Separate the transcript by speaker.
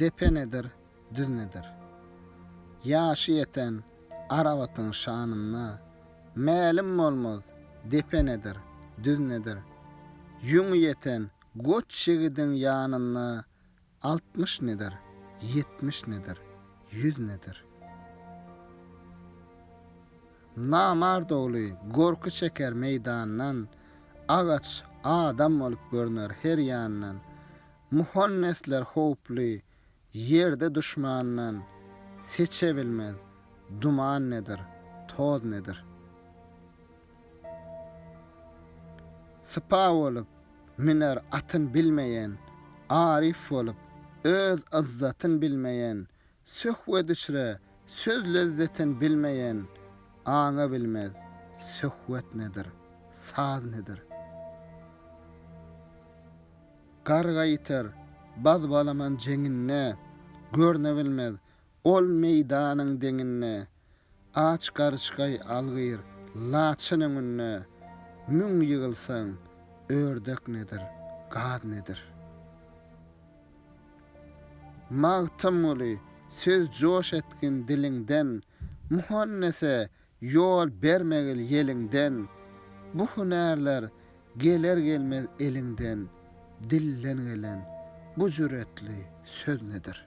Speaker 1: Depe nedir, düz nedir? Ýaşy ýeten Arabatyň şanynda Mälim bolmaz, depe nedir, düz nedir? Ýüňi ýeten goç ýigidiň ýanynda Altmyş nedir, ýetmiş nedir, ýüz nedir? Namart ogly gorky çeker meýdandan, Agaç adam bolup görner her ýandan. Muhannesler howply ýerde duşmandan, Seçe bilmez, duman nedir, toz nedir. Sypa bolup, müner atyn bilmeýän, Aryf bolup, öz yzzatyn bilmeýän, Söhbet içre, söz lezzetin bilmeýän aňa bilmez, söhbet nedir, saz nedir. Garga ýiter, baz-balaman jeňinde, görne bilmez, ol meýdanyň deňinde, Aç garyşgaý algyr, laçyn öňünde Müň ýygylsaň, ördek nedir, gaz nedir? Magtymguly, söz joş etgin diliňden, Muhannese ýol bermegil ýeliňden, Bu hünärler geler-gelmez eliňden, Dilden gelen bu jüretli söz nedir?